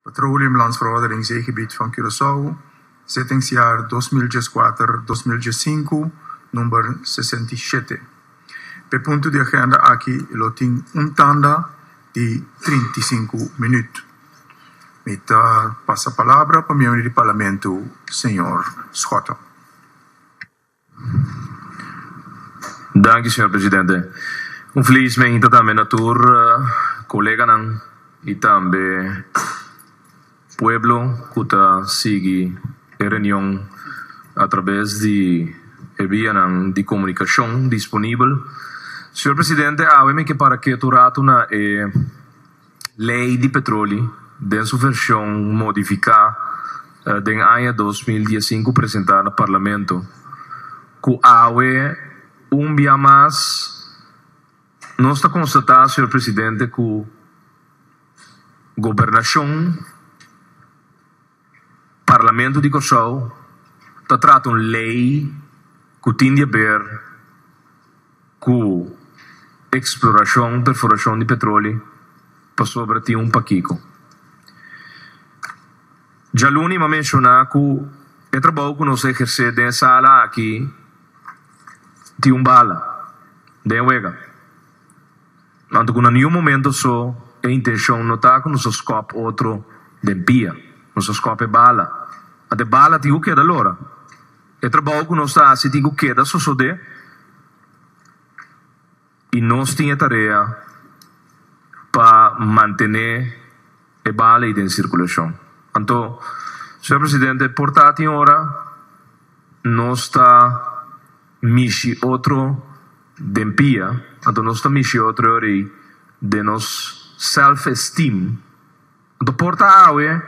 Petroleum Landsverordening Zeegebied van Curaçao, Zettingsjaar dos mil dieskuater, dos mil diessinku, number sesenta i shete. P'e punto di agenda aki lo tin un tanda di trinta i sinku minuut. Mi ta pasa palabra pa miembro di Parlamento, señor Schotten. Danki señor presidente. Un feliz mehinta tambe na tur koleganan y tambe pueblo cu ta sigui e reunion a traves di e vianan di comunicacion disponibel. Señor presidente awe mi ke para ketu ratu na e Lei di Petroli den su vershon modifiká den aña dos mil diesinku presentá na Parlamento, ku awe un bia mas nos ta konstatá, señor Presidente, ku Gobernashon, Parlamento di Kòrsou ta trata un lei ku tin di a ber ku eksplorashon, perforashon di petroli pasobra tin un pakiko. Djaluni m'ha menshoná ku e trabou ku nos a ehersé den e sala aki tin un bala den e wega. Anto ku na niun momento so e intenshon no ta ku nos a skòp otro den pia. Nos a skòp e bala. Ant e bala tin ku keda lora. E trabou ku nos ta hasi tin ku keda sosodé i nos tin e tarea pa mantené e bala ei den sirkulashon. Anto, señor presidente, por ta tin ora. Nos ta mishi otro den pia, anto nos ta mishi otro rei den nos self-esteem. Anto por ta awe,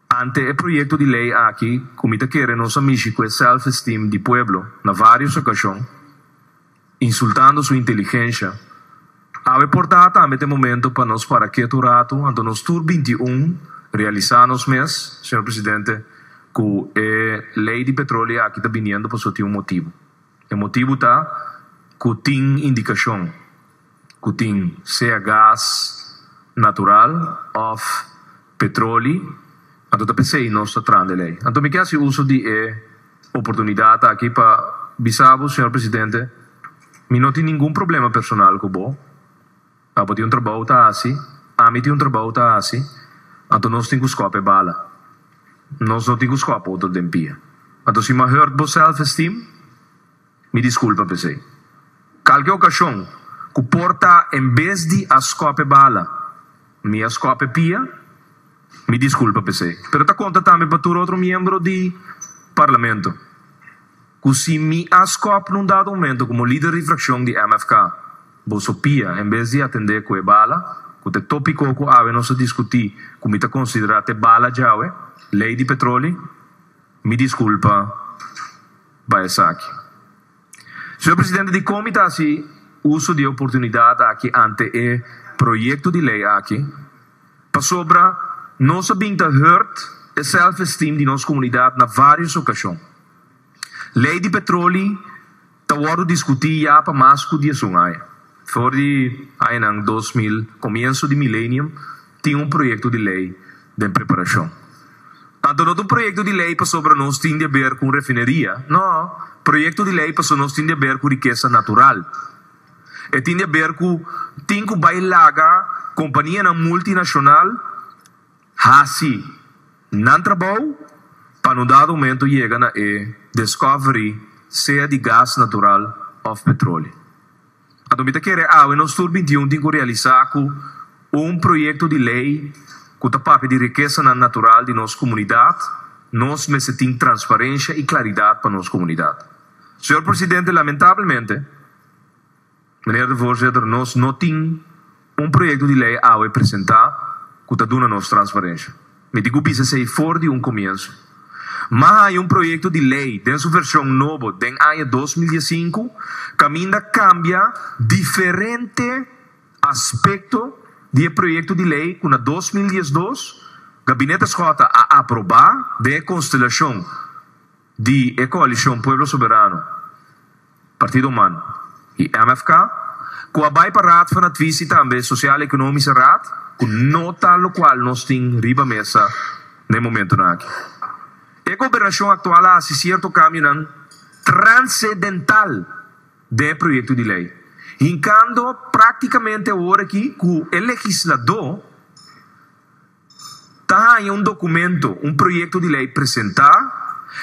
ante e proyekto di lei aki ku mi ta kere nos a mishi ku e self-esteem di pueblo na vários okashon, Insultando su inteligencia. Awe por ta tambe t'e momento pa nos para kiet un rato, anto nos tur binti i un realisa nos mes, señor presidente, cu e ley di petroleo aki ta biniendo pasobra tin un motibu. E motibu ta cu tin indicacion. ku tin sea gas natural òf petroli, anto ta p'esei nos ta tran del ei. Anto mi ke hasi uso di e oportunidat aki pa bisa bo, señor presidente, mi no tin ningun problema personal ku bo. Abo tin un trabou ta hasi, ami tin un trabou ta hasi, anto nos tin ku skòp e bala. Nos no tin ku skòp otro den pia. Anto si m'a hurt bo self-esteem? Mi disculpa p'esey. Kalke ocasion cu por ta en bes di a scope bala, mi a scope pia, mi disculpa p'esey. Pero ta conta tambe pa tur otro miembro di Parlamento cu si mi a scope n'un dado momento como lider di fraccion di MFK, boso pia en bes di a tende cu e bala cu ta e topico cu awe nos a discuti cu mi ta considera ta e bala djawe, ley di petroli, mi disculpa. pa esaki. Señor Presidente, Dicom ta haci uso di e oportunidad aki ante e proyecto di ley aki pasobra nos a bin ta hurt e self-esteem di nos comunidad na varios ocasion. Ley di petroli ta wordo discuti ya pa mas cu diesun aña, for di añanan dos mil, comienzo di milenium, Tin un proyekto di lei den preparashon. Tantu no ta un proyekto di lei pasobra nos tin di a ber ku un refineria, no, proyekto di lei paso nos tin di a ber ku rikesa natural. E tin di a ber ku tin ku bai laga kompanianan multinashonal hasi nan trabou pa un dado momento yega na e diskovery, sea di gas natural òf petrole. Anto mi ta kere awe nos tur bintiun tin ku realisá ku un proyekto di lei ku ta papia di rikesanan natural di nos komunidat. Nos mester tin transparensha i klaridat pa nos komunidat. Señor Presidente, lamentablemente, Meneer de Voorzitter, nos no tin. Un proyekto di lei awe presentá ku ta duna nos transparensha. Mi tin ku bisa esei for di un komienso. Mas haña un proyekto di lei den su vershon nobo den aña dos mil dies sinku kaminda kambia diferente aspekto di e proyekto di lei ku na dos mil dies dos Gabinete Schotten a aprobá den e konstelashon Di e Coalicion Pueblo Soberano, Partido Man y MFK, cu a bay pa Raad van Advies y tambe Sociale Economische Raad, cu no ta locual nos tin riba mesa na e momentonan aki. E Gobernacion actual a haci cierto cambionan transedental den e proyecto di ley, hincando practicamente awor aki cu e legislado, Ta haña un dokumento, un proyekto di lei presentá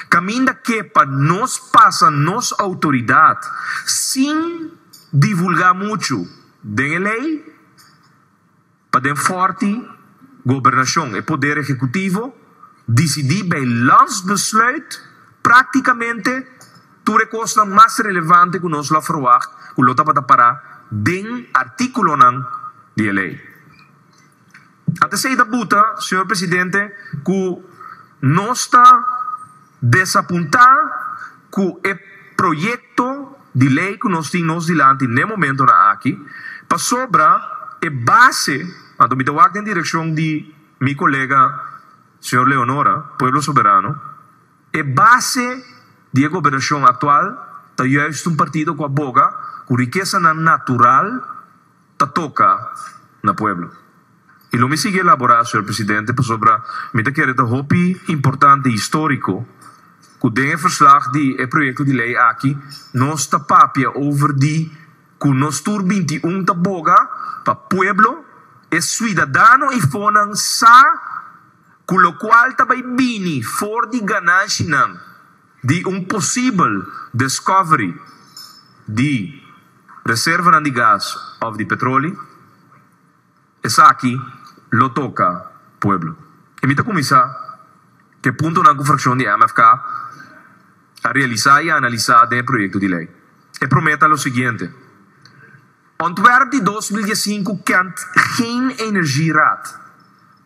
kaminda ke pa nos pasa nos outoridat sin divulgá muchu den e lei pa den fòrti gobernashon, e poder ehekutivo, disidí bei landsbesluit praktikamente tur e kosnan mas relevante ku nos lo a ferwagt ku lo tabata pará den artíkulonan di e lei. A ta esei ta buta, señor presidente, cu nos ta desapunta cu e proyecto di ley cu nos tin nos dilanti n'e momentonan aki, pasobra e base, anto mi ta wak den direccion di mi colega señor Leonora, Pueblo Soberano, e base di e gobernacion actual ta juist un partido cu a boga cu riquesanan natural, ta toka na pueblo. Y lo mi sigui elabora señor presidente pasobra mi ta kere ta hopi importante y historico cu den e verslag di e proyecto di ley aki nos ta papia over di cu nos tur binti i un ta boga pa pueblo, e suidadano y fonan sa cu locual ta bay bini for di gananshinan. di un posibel descoveri di reservanan di gas of di petroli, esaki lo toca pueblo. Y mi ta cuminsa cu e puntonan cu fraccion di MFK a realisa y a analisa den e proyecto di ley. E prome ta lo siguiente, Ontwerp di dos mil dies i cinco kent geen energie raad.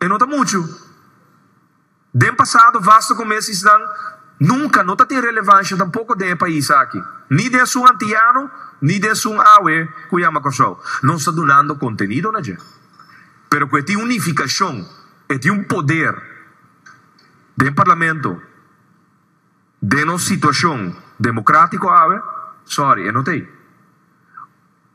E no ta muchu. Den pasado vasta ku mes isnan nunka no ta tin relevansha tampoko den e pais aki, ni den esun antiyano ni den esun awe ku yama Kòrsou. Nos ta dunando kontenido na dje, pero ku e tin un nifikashon, e tin un poder den parlamento, den nos situashon demokratiko awe, sòri, e no ta ei.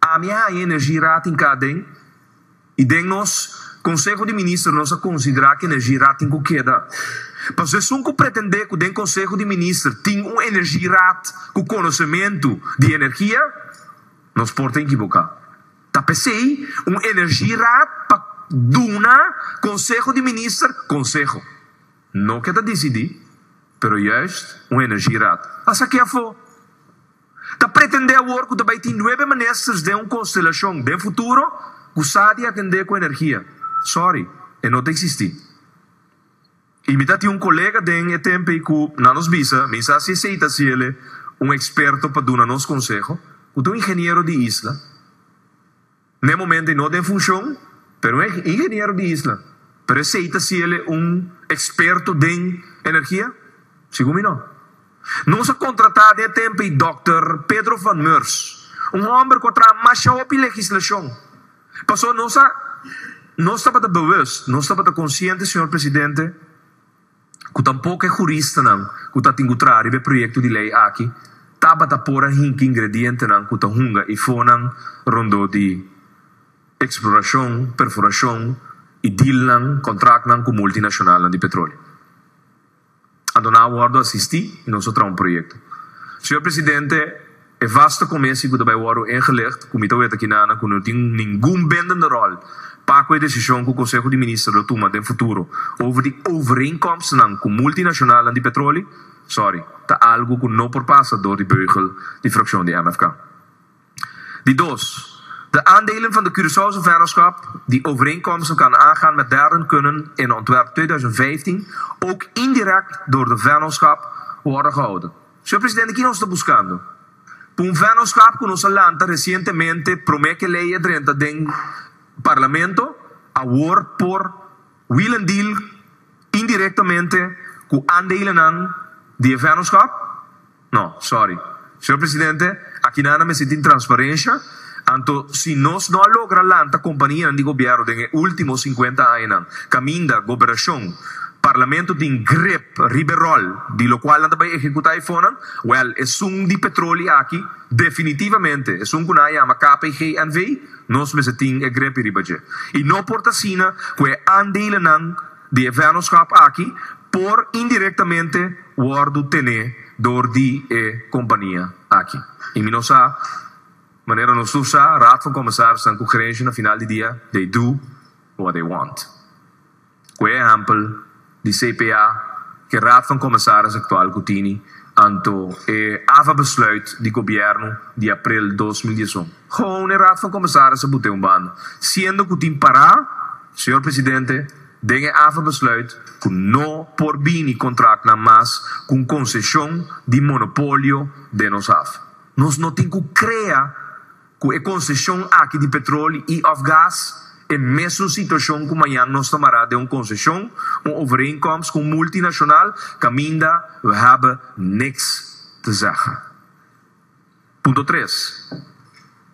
Ami a haña energie ratin ka den y den nos Conseho di Minister nos a considera cu energie ratin cu keda. Paso esun cu pretende cu den Conseho di Minister tin un energie raad cu conocemento di energia nos por ta equivoca. Ta pesey un energie raad pa duna Conseho di Minister conseho. No ke ta dicidi pero juist un energie raad. Pasa aki afo Ta pretendé awor ku ta bai tin nuebe ministers den un konstelashon den futuro ku sa di atendé ku energia? Sòri, e no ta eksistí. I mi ta tin un kolega den e tempe ku nan nos bisa, mi sa si esei ta siele un eksperto pa duna nos konseho, ku ta un ingeniero di isla. Na e momento e no ta en funcion, pero un ingeniero di isla, pero esey ta si el'e un experto den energia? Segun mi no. Nos a contrata den e tempo ei Dòkter Pedro van Meurs, un homber cu a traha masha hopi legislacion. Paso nos a nos tabata bewust, nos tabata consciente, señor presidente, ku tampoco e juristanan ku ta tingutrá riba e proyekto di lei aki tabata por a hinki ingredientenan ku ta hunga i fonan rondó di eksplorashon, perforashon i dealnan, kontraktnan, ku multinashonalnan di petroleo. Anto nan a wòrdu asistí i nos a traha un proyekto. Señor Presidente. E vaste comisie cu ta bay worde ingelicht, cu mi ta wet akinana cu no tin ningun bindende rol pa cu e decision cu Conseho di Minister lo tuma den futuro over di overeenkomstnan cu multinacionalnan di petroli, sorry, ta algo cu no por pasa door di beugel di fraccion di MFK. Di dos, de aandelen van de Curaçaose Vennootschap, die overeenkomsten kan aangaan met derden kunnen in ontwerp tweeduizend vijftien ook indirect door de Vennootschap worden gehouden. Señor Presidente, ki nos ta buskando? Pa un vennootschap cu nos a lanta recientemente prome ke ley e drenta den Parlamento, awor por wheel and deal indirectamente cu aandelenan di e vennootschap? No, sorry. Señor Presidente, akinan a mester tin transparencia. Anto, si nos no a logra lanta kompanianan di gobièrnu den e último sinkuenta añanan, kaminda Goberashon, Parlamento tin grip riba e ròl di lokual nan ta bai ehekutá e fonnan, wèl, esun di petroli aki, definitivamente, esun ku nan a yama KPGNV, nos mester tin e gripi riba dje. I no por ta asina ku e aandelenan di e vènnoskap aki por indirektamente wòrdu tené dor di e kompania aki. I mi no sa. Manera nos tur sa, Raad van Commissarissen cu gerencia na final di dia they do what they want. Cu e ehempel di CPA cu e Raad van Commissaris actual cu tini anto e ava besluit di gobierno di april dos mil dieson. Gewoon e Raad van Commissaris a bute un banda, siendo cu tin para, Señor Presidente, den e ava besluit cu no por bini contractnan mas cu un concecion di monopolio den nos ava. Nos no tin cu crea cu e concesion aki di petroli y of gas e mesun situacion cu mañan nos ta mara den un concesion, un overeenkomst cu un multinacional, caminda we hebben niks te zeggen. Punto tres.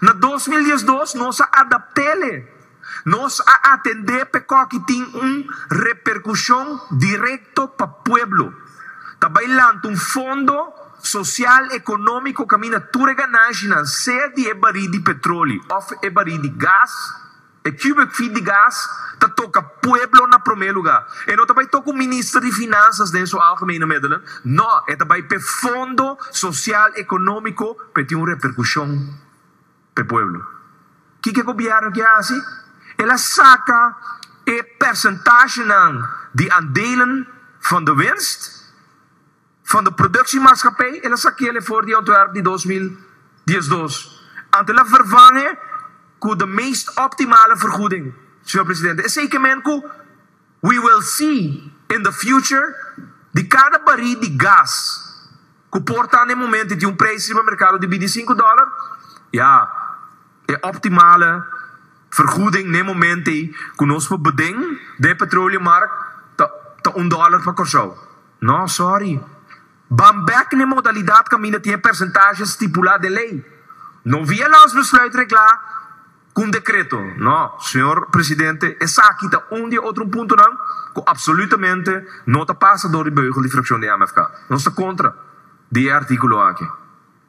Na dos mil dies dos nos a adapt'ele. Nos a atendé p'ecòki tin un reperkushon direkto pa pueblo. Ta bai lanta un fondo sosial ekonómiko kaminda tur e gananshi nan, sea di e barí di petroli òf e barí di gas. E cubic feet di gas ta toca pueblo na prome lugar. E no ta bay toca un minister di Finanzas den su algemene middelen, no, e ta bay p'e fondo social economico p'e tin un repercusion p'e pueblo. Kico e Gobierno kier haci? El a saca e percentahenan di aandelen van de winst Fondo Productie Maatschappij, el a sakeá lei for di Ontwerp di dos mil diesdos, anto el a vervang'e ku de meest optimale vergoeding, señor presidente. Esei ke men ku we will see in the future di kada barí di gas ku por ta n'e momento i tin un preis riba merkado di bintisinku dòler, ya, e optimale vergoeding n'e momento ei ku nos por beden den e petroleummark ta ta un dòler pa Kòrsou. No, sorry. Ban bek n'e modalidad caminda tin e percentahe stipula den ley. No via Landsbesluit regla cu un decreto. No, señor Presidente, esaki ta un di e otro puntonan cu absolutamente no ta pasa door di beugel di fraccion di AMFK. Nos ta contra di e articulo aki.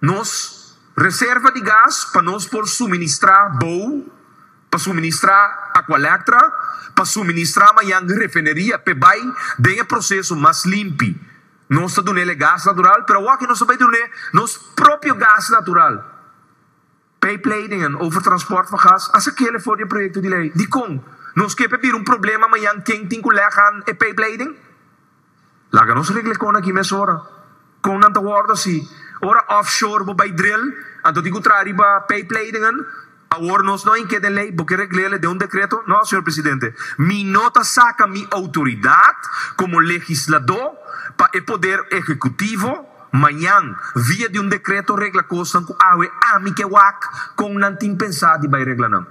Nos reserva di gas pa nos por suministrá bou, pa suministrá Aqualectra, pa suministrá mañan refineria p'e bai den e proseso mas limpi. Nos ta dun'el e gas natural, pero awor aki nos ta bai dun'e nos propio gas natural. Pijpleidingen over transport van gas a sakele for di e proyecto di ley. Dikon? No esque pe bira un problema mayan ken tin cu leg han e pijpleiding? Laga nos regla econ aki mesora. Con nan ta wordo asi? Ora offshore bo bay drill, anto tin cu traha riba pijpleidingen? Awor nos no a inke den ley, bo ke reglele den un decreto? No, señor presidente. Mi no ta saca mi autoridad como legislador pa e poder ejecutivo. Mañan, via di un dekreto regla kosnan ku awe ami ke wak kon nan tin pensá di bai regla nan.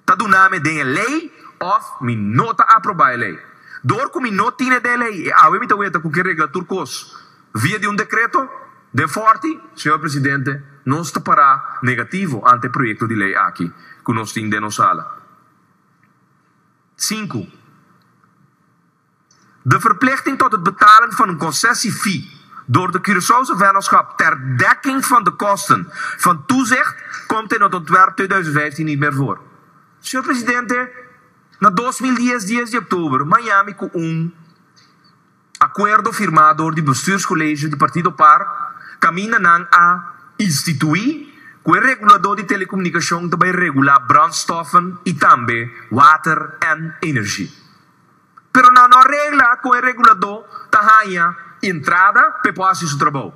Ta duna mi den e lei òf mi no ta aprobá e lei. Dor ku mi no tin ede lei e awe mi ta weta ku ke regla tur kos via di un dekreto den fòrti. Señor Presidente, nos ta pará negativo ante e proyekto di lei aki ku nos tin den nos sala. Sinku. De verplichting tot het betalen van een concessie-fee door de Curaçaose Vennootschap ter dekking van de kosten van toezicht komt in het ontwerp tweeduizend vijftien niet meer voor. Señor Presidente, na dos mil dies dies di oktober Miami cu un acuerdo firmá door di Bestuurscollege di Partido Par caminda nan a instituí cu e regulador di telecomunicacion ta bay regulá brandstoffen y tambe water en energie. pero nan no a regla kon e reguladó ta haña entrada pa e por hasi su trabou.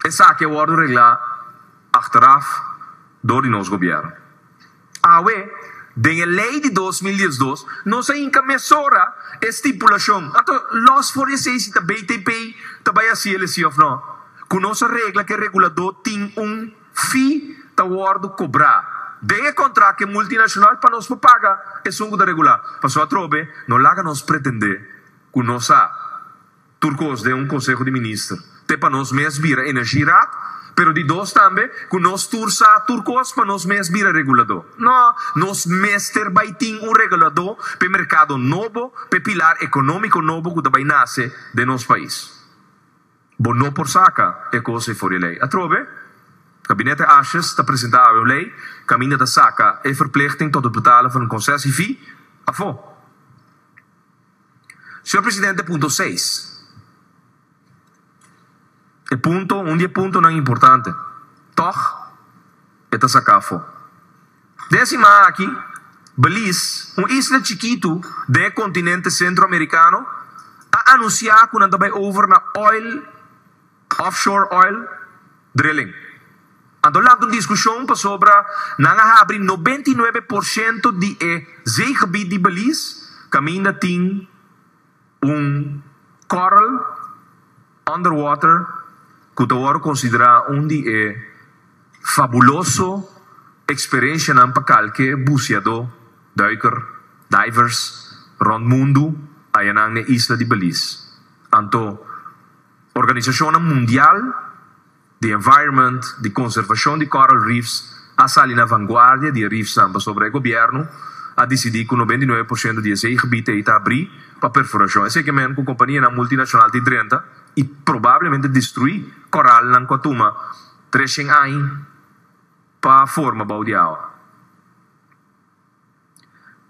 Esaki a wòrdu reglá achteraf dor di nos gobièrnu. Awe, den e lei di dos mil diesdos, nos a hinka mesora e stipulashon, anto lòs for esei si ta BTP ta bai hasi el esei òf nò, ku nos a regla ku e reguladó tin un. Fee ta wòrdu kobrá den e kontrakt ke multinacional pa nos por paga esun ku ta regulá. Paso atrobe no laga nos pretendé ku no sa tur kos den un konseho di minister. Te pa nos mes bira energieraad, pero di dos tambe ku nos tur sa tur kos pa nos mes bira reguladó. No, nos mester bai tin un reguladó p'e merkado nobo, p'e pilar ekonómiko nobo ku ta bai nase den nos pais. Bo no por saca e cos ey for di ley. Atrobe, Gabinete Ashes ta presenta awe un ley caminda ta saca e verplichting tot het betalen van een concessiefee afo. Señor Presidente, punto seis. E punto, un di e puntonan importante. Toch, E ta saká afó. Den e siman aki, Belize, un isla chikitu den e kontinente Sentro-Amerikano, a anunsiá ku nan ta bai over na oil, offshore oil, drilling. Anto lanta un diskushon pasobra nan a habri nobenta i nuebe por shento di e zeegebied di Belize kaminda tin. Un coral underwater cu ta worde considera un di e fabuloso experiencianan pa calke buceador, duiker, divers, rond mundu ayanan n'e isla di Belize. Anto, organisacionnan mundial. di environment, di conservacion di coral reefs a sali na vanguardia di e reefsnan pasobra e gobierno a dicidi cu noventa y nueve por ciento di esey gebied ey ta abri pa perforacion. Esey ke men cu companianan multinacional ta y drenta y probablemente destrui coralnan cu a tuma tres cien aña pa forma bou di awa.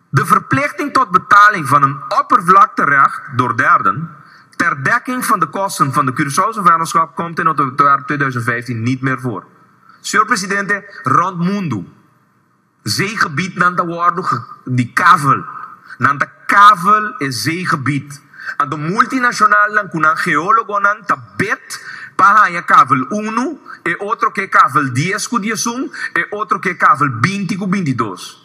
De verplichting tot betaling van een oppervlakterecht door derden ter dekking van de kosten van de Curaçaose vennootschap komt in otober tweeduizend vijftien niet meer voor. Señor Presidente, rond mundu, zeegebiednan ta wordu di kavel. Nan ta kavel e zeegebied. Anto multinacionalnan cu nan geologonan ta bed pa haña kavel uno, e otro ke kavel dies cu diesun, e otro ke kavel binti cu bintidos.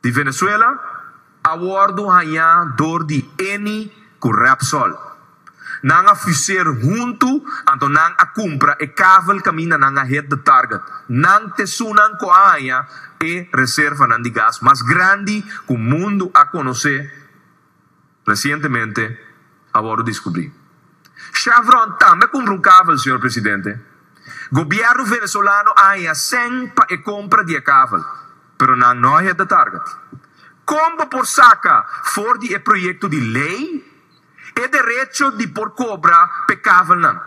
Di Venezuela a wordo hañá door di Eni cu Repsol. Nan a fuseer hunto anto nan a cumpra e kavel caminda nan a hit de target. Nan t'esunnan cu a haña e reservanan di gas mas grandi cu mundo a conocé. Resientemente a wòrdu diskubrí. Chevron tambe kumpra un kavel, señor presidente. Gobièrnu venezolano a haña sèn pa e kompra di e kavel, pero nan no a hit de target. Kon bo por saka for di e proyekto di lei e derecho di por kobra p'e kavelnan?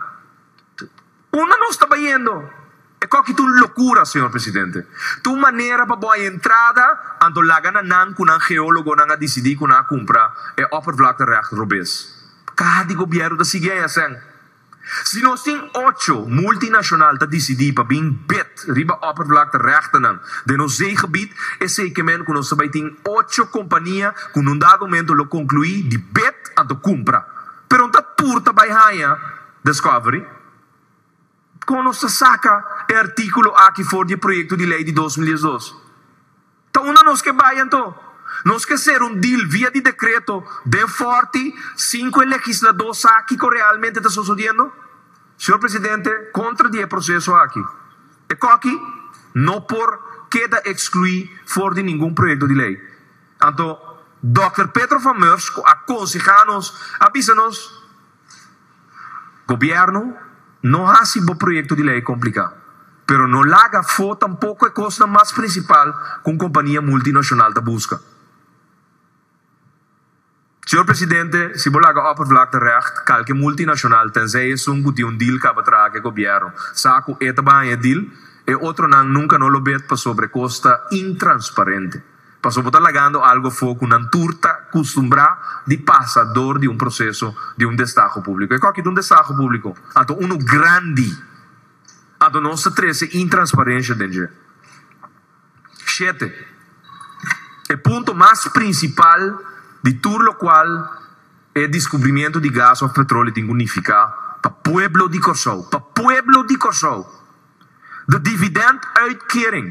Unda nos ta bayendo? E koki ta un lokura, señor presidente. Ta un manera pa bo a entrada anto laga na nan ku nan geólogonan a disidí ku nan a kumpra e oppervlakterecht robes. Kaha di gobièrnu ta sigui ei asèn. Si nos tin ocho multinashonal ta disidí pa bin bid riba oppervlakterechtennan den nos zeegebied, esei ke men ku nos ta bai tin ocho kompania ku en un dado momento lo konkluí di bid anto kumpra. Pero N ta tur ta bai haña Discovery, Kon nos ta saka e artíkulo aki for di e proyekto di lei di dos mil diesdos? Ta unda nos ke bai anto? Nos ke ser un dil via di dekreto den fòrti sinku e legisladó sa kiko realmente ta sosodiendo? Señor Presidente, kontra di e proseso aki, e kòki no por keda ekskluí for di ningun proyekto di lei. Anto, Dòkter Pedro van Meurs, ku a konsehá nos, a bisa nos, Gobierno, no haci bo proyecto di ley complica, pero no laga fo tampoco e cosnan mas principal cu un compania multinacional ta busca. Señor Presidente, si bo laga oppervlakte recht, calke multinacional, tenzij esun cu tin un deal caba traha cu e Gobierno, sa cu e ta baña e deal, e otronan nunca no lo bet pasobra e cos ta intransparente. Paso bo ta lagando algo afo cu nan tur ta custumbrá di pasa dor di un proceso di un destaho público. E coki ta un destaho público? Anto unu grandi. Anto nos ta trece intransparencia den dje. Shete, E punto mas principal di tur locual e descubrimiento di gas of petrole tin cu nificá pa pueblo di Corsou, pa pueblo di Corsou! De dividend uitkering.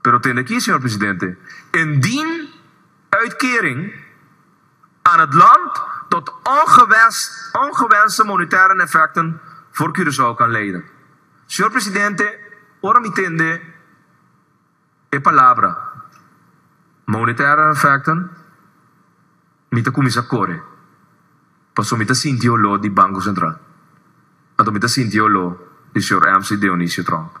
Pero tende aki, señor presidente, indien uitkering aan het land tot ongewenste monetaire neffecten voor Curaçao kan leiden. Señor presidente, ora mi tende e palabra monetaire neffecten mi ta cuminsa core paso mi ta sinti e olor di Banco Central, anto mi ta sinti e olor di señor MC. Dionisio Trump.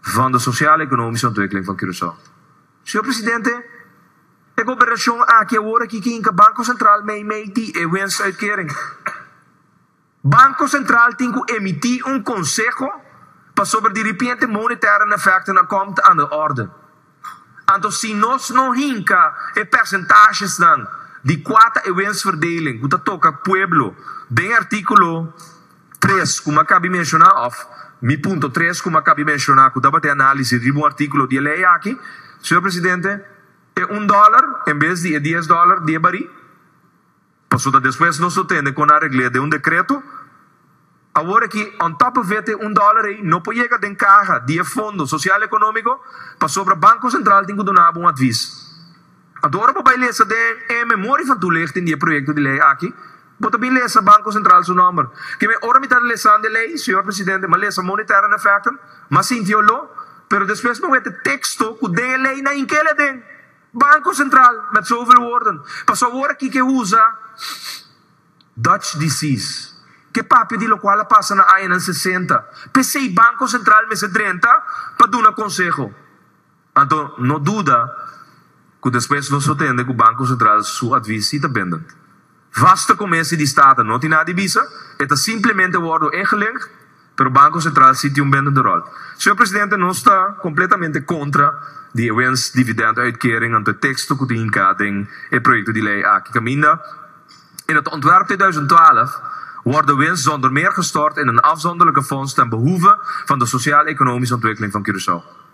Fondo Sosial Ekonomiese Ontwikkeling van Curaçao. Señor Presidente, e gobernacion aki awor aki ke hinka Banco Central meimei di e winstuitkering. Banco Central tin ku emiti un conseho pasobra di ripiente monetaire nefectonan komt aan de orde. Anto si nos no hinka e percentashesnan di kua ta e wensverdeling ku ta toka pueblo den artíkulo tres ku mi akaba di menshoná òf mi punto tres ku mi akaba di menshoná ku tabata e análisi riba un artíkulo di e lei aki, señor presidente, e un dòler en bes di e dies dòler diebari. Paso ta despues nos lo tende con a regle den un decreto. Awor aki, on top of it, e un dollar ey no por yega den caha di e fondo social economico, pasobra Banco Central tin cu duna abo un advis. Anto ora bo bay lesa den e memorie van toelichting di e proyecto di ley aki, bo ta bin lesa Banco Central su nomber. Kieme ora mi ta lesando e ley, Señor Presidente, mi a lesa monetary and effectum, mi a sintió lo, pero despues mi a wete texto cu den e ley na hinkele aden. Banco Central met zoveel-woorden, paso awor aki ke usa Dutch disease, ke papia di lokual a pasa na añanan sesenta, pesey Banco Central mester drenta pa duna konseho. Anto no duda ku despues nos lo tende ku Banco Central su advis si ta bindend. Vaste comesi di Staten no tin nada di bisa, e ta simplemente wordo ingelegd, pero Banco Central si tin un bindende rol. Señor Presidente, nos ta completamente contra di e wens dividend uitkering anto e texto cu tin hinca den e proyecto di ley aki caminda e na ta ontwerp tweeduizend twaalf wordo wens zonder meer gestort in een afzonderlijke fonds ten behoeve van de sociaal-economische ontwikkeling van Curaçao.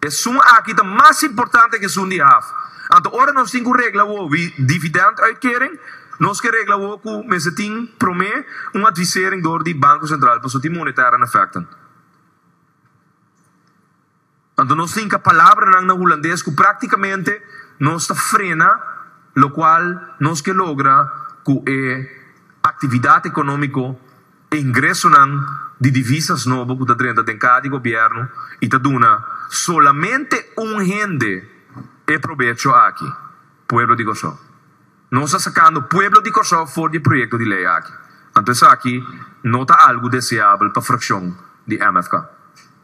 Esun aki ta mas importante ku esun di haf. Anto ora nos tin ku regla wou di dividenduitkering, nos ke regla wou ku mester tin promé un advisering dor di Banko Sentral pasobra tin monetêr an efèkten. Anto nos tin ka palabranan na hulandes ku praktikamente nos ta frena lokual nos ke logra ku e aktividat ekonómiko Ingresonan di divisas nobo ku ta drenta den kada di gobièrnu i ta duna solamente un hende e probecho aki, pueblo di Kòrsou. Nos ta sakando pueblo di Kòrsou for di e proyekto di lei aki. Anto esaki no ta algu deseabel pa frakshon di MFK.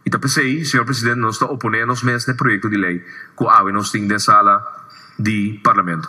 I ta p'esei, señor presidente, nos ta oponé nos mes na e proyekto di lei ku awe nos tin den sala di parlamento.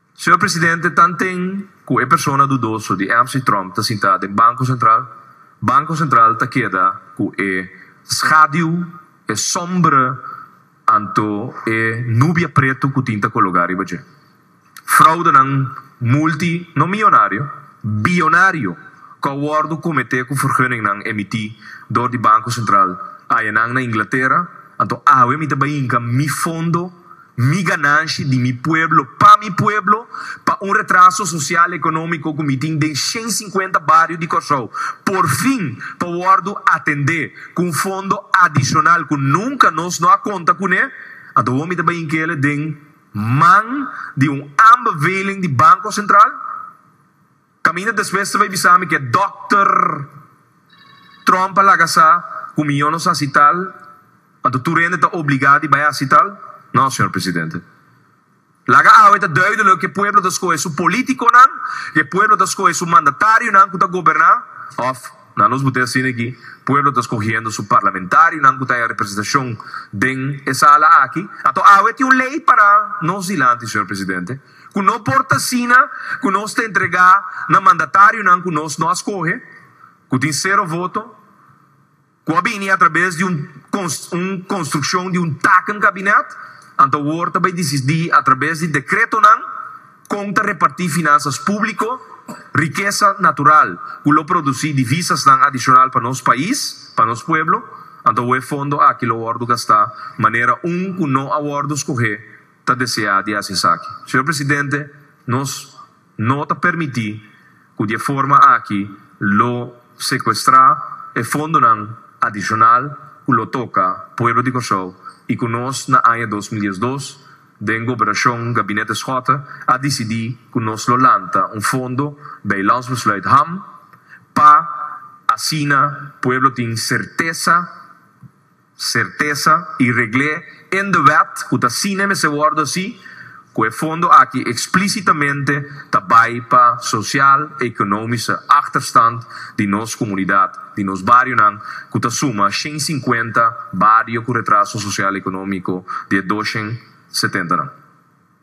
Señor Presidente, tanten cu e persona dudoso di msy Trump ta sinta den Banco Central, Banco Central ta keda cu e schaduw, e sombra, anto e nubia preto cu tin ta cologa riba dje. Fraudenan multi, no millonario, billonario, cu a wordo comete cu vergunningnan emiti door di Banco Central, ayenan na Inglatera, anto awe mi ta bay hinca mi fondo, Mi gananshi di mi pueblo pa mi pueblo pa un retraso sosial ekonómiko ku mi tin den shen sinkuenta bario di Kòrsou por fin ta wòrdu atendé ku un fondo adishonal ku nunka nos no a konta kuné, anto awor mi ta bai inkele den man di un aanbeveling di Banko Sentral. Kaminda despues ta bai bisa mi ku e dòkter Trump a laga sa ku mi yono sa hasi tal, anto tur hende ta obligá di bai hasi tal? No, señor presidente. Laga awe ta duidelijk ku e pueblo ta skohe su polítikonan, ku e pueblo ta skohe su mandatarionan ku ta goberná, òf, nan los bot'é asina aki, pueblo ta skohiendo su parlamentarionan ku ta haña representashon den e sala aki. Anto awe tin un lei para nos dilanti, señor presidente. Ku no por ta asina ku nos ta entregá na mandatarionan ku nos no a skohe, ku tin sero voto, ku a bini atrabes di un un konstrukshon di un taken kabinèt, anto awor ta bai disidí atrabes di dekretonan kon ta repartí finansas públiko, rikesa natural ku lo produsí divisasnan adishonal pa nos pais, pa nos pueblo, anto awor e fondo aki lo wòrdu gastá manera un ku no a wòrdu skohe ta desea di hasi esaki. Señor Presidente, nos no ta permiti cu di e forma aki lo secuestra e fondonan adicional cu lo toca pueblo di Corsou y cu nos na aña dos mil diesdos den Gobernacion Gabinete Schotte a dicidi cu nos lo lanta un fondo bij Landsbesluit Ham pa asina pueblo tin certeza Sertesa y regl'é in de wet cu ta sine mester wordo así, cu e fondo aki explicitamente ta bay pa social, economische achterstand di nos comunidad, di nos barionan, cu ta suma shen cincuenta bario cu retraso social-economico di e doshend setenta nan.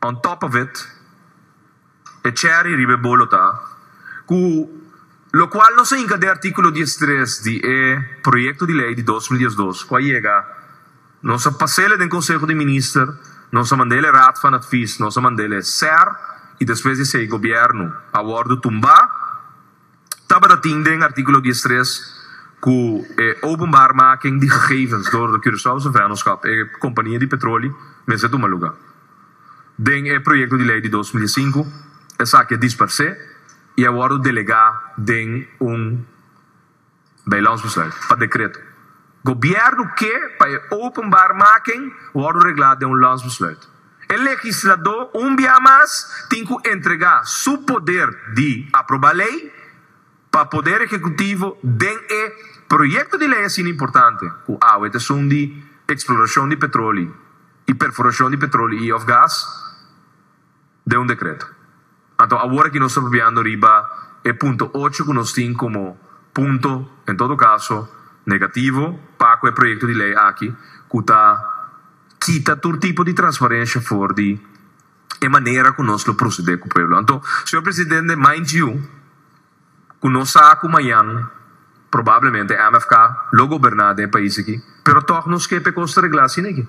On top of it, e cherry riba e bolo ta cu locual nos a hinca den articulo diestres di e Proyecto di Ley di dos mil diesdos cu a yega, nos a pasele den Conseho di Minister, nos a mandele Raad van Advies, nos a mandele ser y despues di esey Gobierno a wordo tumba. Tabata tin den artíkulo diestres ku e openbaar making di gegevens dor di Curaçaose Vennootschap, e kompania di petroli, mester tuma lugá. Den e proyekto di lei di dos mil i sinku, esaki a disparsé i a wòrdu delegá den un. Bijlandsbesluit, pa dekreto. Gobièrnu ke pa e openbaar maken wòrdu reglá den un landsbesluit. E legisladó un bia mas tin ku entregá su poder di aprobá lei pa poder ekekutivo den e proyekto di lei asina importante ku awe ta esun di eksplorashon di petroli i perforashon di petroli i òf gas, den un dekreto. Anto awor aki nos ta papiando riba e punto ocho ku nos tin komo punto, en todo kaso, negativo pa ku e proyekto di lei aki ku ta kita tur tipo di transparensha for di e manera ku nos lo prosede ku pueblo. Anto, señor Presidente, mind you, Ku nos sa ku mañan probablemente MFK lo goberná den e pais aki, pero tòg nos ke pekos ta reglá sin aki.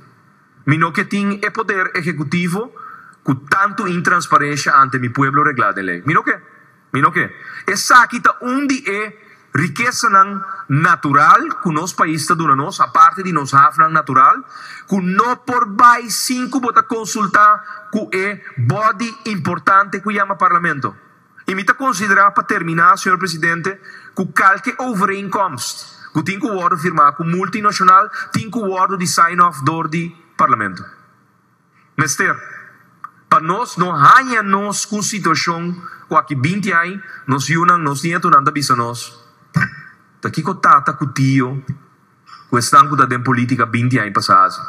Mi no ke tin e poder ehekutivo ku tantu intransparensha ante mi pueblo reglá den lei. Mi no ke. Mi no ke. Esaki ta un di e rikesanan natural ku nos pais ta duna nos, aparte di nos hafnan natural, ku no por bai sin ku bo ta konsultá ku e bòdi importante ku yama parlamento. I mi ta konsiderá pa terminá, señor presidente, ku kalke overeenkomst ku tin ku wòrdu firmá ku multinashonal tin ku wòrdu di sign off dor di Parlamento. Mester pa nos no haña nos ku un situashon ku aki binti ai nos yunan, nos nietunan ta bisa nos, Ta kiko tata ku tio ku esnan ku ta den polítika binti aña pasá hasi.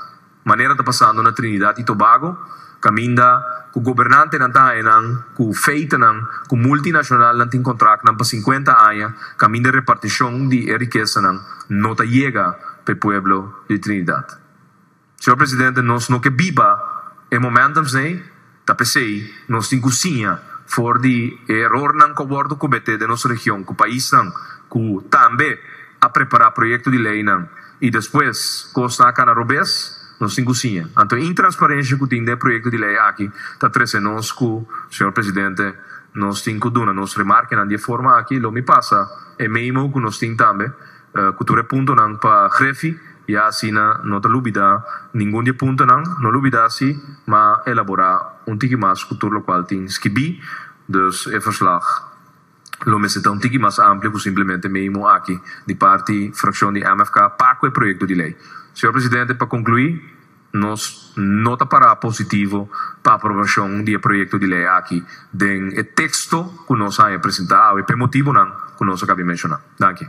Manera ta pasando na Trinidad i Tobago kaminda ku gobernantenan ta haña nan ku feitenan ku multinacionalnan tin kontraknan pa sinkuenta aña kaminda repartishon di e rikesanan no ta yega pa e pueblo di Trinidad. Señor Presidente, nos no ke biba e momentum's n'ei, ta pesei nos tin ku siña for di e erornan ku a wòrdu kometé den nos region ku paisnan ku tambe a prepará proyekto di leinan i despues kosnan a kana robes, nos tin ku siña. Anto e intransparensha ku tin den e proyekto di lei aki ta trese nos ku, Señor Presidente, nos tin ku duna nos remarkenan di e forma aki, lo mi pasa e meimo ku nos tin tambe, Ku tur e puntonan pa Greffi, i asina no ta lubidá ningun di e puntonan. No lubidá si m'a elaborá un tiki mas ku tur lokual tin skibí. Dus e verslag lo mester ta un tiki mas amplio ku simplemente meimo aki di parti frakshon di mfk pa ku e proyekto di lei. Señor Presidente, pa konkluí Nos no ta pará positivo pa aprobashon di e proyekto di lei aki den e teksto ku nos a haña presentá awe p'e motibunan ku nos a kabi menshoná. Danki.